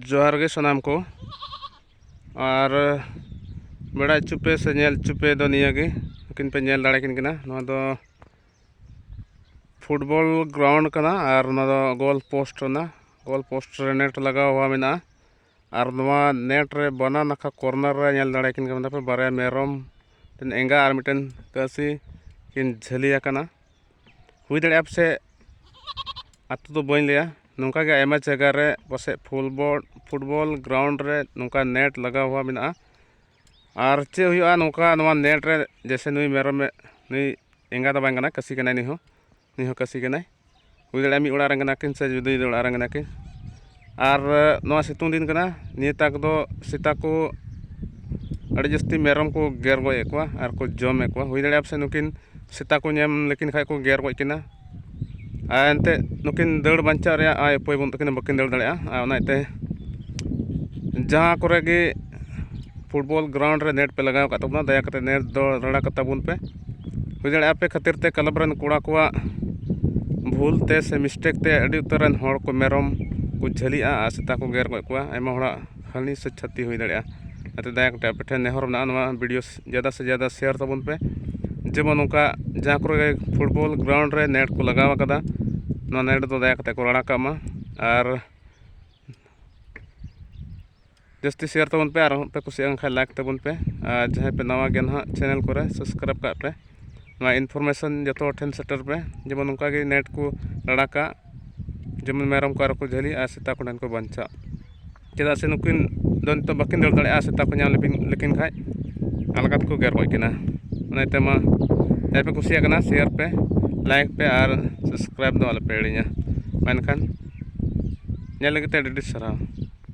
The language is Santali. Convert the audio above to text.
ᱡᱚᱦᱟᱨ ᱜᱮ ᱥᱟᱱᱟᱢ ᱠᱚ ᱟᱨ ᱵᱮᱲᱟ ᱪᱩᱯᱮ ᱥᱮ ᱧᱮᱞ ᱪᱩᱯᱮ ᱫᱚ ᱱᱤᱭᱟᱹ ᱜᱮ ᱩᱱᱠᱤᱱ ᱯᱮ ᱧᱮᱞ ᱫᱟᱲᱮ ᱠᱤᱱ ᱠᱟᱱᱟ ᱱᱚᱣᱟ ᱫᱚ ᱯᱷᱩᱴᱵᱚᱞ ᱜᱨᱟᱣᱩᱱᱰ ᱠᱟᱱᱟ ᱟᱨ ᱱᱚᱣᱟ ᱫᱚ ᱜᱳᱞ ᱯᱳᱥᱴ ᱠᱟᱱᱟ ᱜᱳᱞ ᱯᱳᱥᱴ ᱨᱮ ᱱᱮᱴ ᱞᱟᱜᱟᱣ ᱢᱮᱱᱟᱜᱼᱟ ᱟᱨ ᱱᱚᱣᱟ ᱱᱮᱴ ᱨᱮ ᱵᱟᱱᱟ ᱱᱟᱠᱷᱟ ᱠᱚᱨᱱᱟᱨ ᱨᱮ ᱧᱮᱞ ᱫᱟᱲᱮ ᱠᱤᱱ ᱠᱟᱱᱟ ᱯᱮ ᱵᱟᱨᱭᱟ ᱢᱮᱨᱚᱢ ᱢᱤᱫᱴᱮᱱ ᱮᱸᱜᱟ ᱟᱨ ᱢᱤᱫᱴᱮᱱ ᱠᱟᱹᱥᱤ ᱠᱤᱱ ᱡᱷᱟᱹᱞᱤ ᱟᱠᱟᱱᱟ ᱦᱩᱭ ᱫᱟᱲᱮᱭᱟᱜᱼᱟ ᱯᱟᱥᱮᱡ ᱟᱛᱳ ᱫᱚ ᱵᱟᱹᱧ ᱞᱟᱹᱭᱟ ᱱᱚᱝᱠᱟ ᱜᱮ ᱟᱭᱢᱟ ᱡᱟᱭᱜᱟ ᱨᱮ ᱯᱟᱥᱮᱡ ᱯᱷᱩᱞᱵᱚᱞ ᱯᱷᱩᱴᱵᱚᱞ ᱜᱨᱟᱣᱩᱱᱰ ᱨᱮ ᱱᱚᱝᱠᱟ ᱱᱮᱹᱴ ᱞᱟᱜᱟᱣ ᱦᱚᱸ ᱢᱮᱱᱟᱜᱼᱟ ᱟᱨ ᱪᱮᱫ ᱦᱩᱭᱩᱜᱼᱟ ᱱᱚᱝᱠᱟ ᱱᱚᱣᱟ ᱱᱮᱹᱴ ᱨᱮ ᱡᱮᱭᱥᱮ ᱱᱩᱭ ᱢᱮᱨᱚᱢᱮ ᱱᱩᱭ ᱮᱸᱜᱟ ᱫᱚ ᱵᱟᱝ ᱠᱟᱱᱟᱭ ᱠᱟᱹᱥᱤ ᱠᱟᱱᱟᱭ ᱱᱩᱭ ᱦᱚᱸ ᱱᱩᱭ ᱦᱚᱸ ᱠᱟᱹᱥᱤ ᱠᱟᱱᱟᱭ ᱦᱩᱭ ᱫᱟᱲᱮᱭᱟᱜᱼᱟ ᱢᱤᱫ ᱚᱲᱟᱜ ᱨᱮᱱ ᱠᱟᱱᱟ ᱠᱤᱱ ᱥᱮ ᱡᱩᱫᱟᱹ ᱡᱩᱫᱟᱹ ᱚᱲᱟᱜ ᱨᱮᱱ ᱠᱟᱱᱟ ᱠᱤᱱ ᱟᱨ ᱱᱚᱣᱟ ᱥᱤᱛᱩᱝ ᱫᱤᱱ ᱠᱟᱱᱟ ᱱᱤᱭᱟᱹ ᱛᱟᱠ ᱫᱚ ᱥᱮᱛᱟ ᱠᱚ ᱟᱹᱰᱤ ᱡᱟᱹᱥᱛᱤ ᱢᱮᱨᱚᱢ ᱠᱚ ᱜᱮᱨ ᱜᱚᱡ ᱮᱫ ᱠᱚᱣᱟ ᱟᱨ ᱠᱚ ᱡᱚᱢᱮᱫ ᱠᱚᱣᱟ ᱦᱩᱭ ᱫᱟᱲᱮᱭᱟᱜᱼᱟ ᱯᱟᱥᱮᱡ ᱱᱩᱠᱤᱱ ᱥᱮᱛᱟ ᱠᱚ ᱧᱟᱢ ᱞᱮᱠᱤᱱ ᱠᱷᱟᱱ ᱠᱚ ᱜᱮᱨ ᱜᱚᱡ ᱠᱤᱱᱟ ᱟᱨ ᱮᱱᱛᱮᱫ ᱱᱩᱠᱤᱱ ᱫᱟᱹᱲ ᱵᱟᱧᱪᱟᱣ ᱨᱮᱭᱟᱜ ᱟᱭ ᱩᱯᱟᱹᱭ ᱵᱟᱹᱱᱩᱜ ᱛᱟᱹᱠᱤᱱᱟ ᱵᱟᱹᱠᱤᱱ ᱫᱟᱹᱲ ᱫᱟᱲᱮᱭᱟᱜᱼᱟ ᱟᱨ ᱚᱱᱟ ᱤᱭᱟᱹᱛᱮ ᱡᱟᱦᱟᱸ ᱠᱚᱨᱮ ᱜᱮ ᱯᱷᱩᱴᱵᱚᱞ ᱜᱨᱟᱣᱩᱱᱰ ᱨᱮ ᱱᱮᱹᱴ ᱯᱮ ᱞᱟᱜᱟᱣ ᱟᱠᱟᱫ ᱛᱟᱵᱚᱱᱟ ᱫᱟᱭᱟ ᱠᱟᱛᱮᱫ ᱱᱮᱹᱴ ᱫᱚ ᱨᱟᱲᱟ ᱠᱟᱛᱟ ᱵᱚᱱ ᱯᱮ ᱦᱩᱭ ᱫᱟᱲᱮᱭᱟᱜᱼᱟ ᱟᱯᱮ ᱠᱷᱟᱹᱛᱤᱨ ᱛᱮ ᱠᱞᱟᱵᱽ ᱨᱮᱱ ᱠᱚᱲᱟ ᱠᱚᱣᱟᱜ ᱵᱷᱩᱞ ᱛᱮ ᱥᱮ ᱢᱤᱥᱴᱮᱠ ᱛᱮ ᱟᱹᱰᱤ ᱩᱛᱟᱹᱨ ᱨᱮᱱ ᱦᱚᱲ ᱠᱚ ᱢᱮᱨᱚᱢ ᱠᱚ ᱡᱷᱟᱹᱞᱤᱜᱼᱟ ᱟᱨ ᱥᱮᱛᱟ ᱠᱚ ᱜᱮᱨ ᱜᱚᱡ ᱠᱚᱣᱟ ᱟᱭᱢᱟ ᱦᱚᱲᱟᱜ ᱦᱟᱹᱱᱤ ᱥᱮ ᱪᱷᱟᱹᱛᱤ ᱦᱩᱭ ᱫᱟᱲᱮᱭᱟᱜᱼᱟ ᱚᱱᱟᱛᱮ ᱫᱟᱭᱟ ᱠᱟᱛᱮᱫ ᱟᱯᱮ ᱴᱷᱮᱱ ᱱᱮᱦᱚᱨ ᱢᱮᱱᱟᱜᱼᱟ ᱱᱚᱣᱟ ᱵᱷᱤᱰᱭᱳ ᱡᱟᱫᱟ ᱥᱮ ᱡᱟᱫᱟ ᱥᱮᱭᱟᱨ ᱛᱟᱵᱚᱱ ᱯᱮ ᱡᱮᱢᱚᱱ ᱱᱚᱝᱠᱟ ᱡᱟᱦᱟᱸ ᱠᱚᱨᱮ ᱯᱷᱩᱴᱵᱚᱞ ᱜᱨᱟᱣᱩᱱᱰ ᱨᱮ ᱱᱮᱹᱴ ᱠᱚ ᱞᱟᱜᱟᱣ ᱠᱟᱫᱟ ᱱᱚᱣᱟ ᱱᱮᱹᱴ ᱫᱚ ᱫᱟᱭᱟ ᱠᱟᱛᱮᱫ ᱠᱚ ᱨᱟᱲᱟ ᱠᱟᱜ ᱢᱟ ᱟᱨ ᱡᱟᱹᱥᱛᱤ ᱥᱮᱭᱟᱨ ᱛᱟᱵᱚᱱ ᱯᱮ ᱟᱨᱦᱚᱸ ᱯᱮ ᱠᱩᱥᱤᱭᱟᱜ ᱠᱷᱟᱱ ᱞᱟᱭᱤᱠ ᱛᱟᱵᱚᱱ ᱯᱮ ᱟᱨ ᱡᱟᱦᱟᱸᱭ ᱯᱮ ᱱᱟᱣᱟ ᱜᱮᱭᱟ ᱱᱟᱦᱟᱜ ᱪᱮᱱᱮᱞ ᱠᱚᱨᱮ ᱥᱟᱵᱥᱠᱨᱟᱭᱤᱵᱽ ᱠᱟᱜ ᱯᱮ ᱱᱚᱣᱟ ᱤᱱᱯᱷᱚᱨᱢᱮᱥᱚᱱ ᱡᱚᱛᱚ ᱦᱚᱲ ᱴᱷᱮᱱ ᱥᱮᱴᱮᱨ ᱯᱮ ᱡᱮᱢᱚᱱ ᱱᱚᱝᱠᱟ ᱜᱮ ᱱᱮᱴ ᱠᱚ ᱞᱟᱲᱟ ᱠᱟᱜ ᱡᱮᱢᱚᱱ ᱢᱮᱨᱚᱢ ᱠᱚ ᱟᱨᱚ ᱠᱚ ᱡᱷᱟᱹᱞᱤᱜ ᱟᱨ ᱥᱮᱛᱟ ᱠᱚ ᱴᱷᱮᱱ ᱠᱚ ᱵᱟᱧᱪᱟᱜ ᱪᱮᱫᱟᱜ ᱥᱮ ᱱᱩᱠᱤᱱ ᱫᱚ ᱱᱤᱛᱚᱜ ᱵᱟᱹᱠᱤᱱ ᱫᱟᱹᱲ ᱫᱟᱲᱮᱭᱟᱜᱼᱟ ᱥᱮᱛᱟ ᱠᱚ ᱧᱟᱢ ᱞᱮᱠᱤᱱ ᱠᱷᱟᱡ ᱟᱞᱜᱟ ᱛᱮᱠᱚ ᱜᱮᱨ ᱜᱚᱡ ᱠᱤᱱᱟ ᱚᱱᱟ ᱤᱭᱟᱹᱛᱮ ᱢᱟ ᱡᱟᱦᱟᱸᱭ ᱯᱮ ᱠᱩᱥᱤᱭᱟᱜ ᱠᱟᱱᱟ ᱥᱮᱭᱟᱨ ᱯᱮ ᱞᱟᱭᱤᱠ ᱯᱮ ᱟᱨ ᱥᱟᱵᱥᱠᱨᱟᱭᱤᱵᱽ ᱫᱚ ᱟᱞᱚᱯᱮ ᱦᱤᱲᱤᱧᱟ ᱢᱮᱱᱠᱷᱟᱱ ᱧᱮᱞ ᱞᱟᱹᱜᱤᱫ ᱛᱮ ᱟᱹᱰᱤ ᱟᱹᱰᱤ ᱥᱟᱨᱦᱟᱣ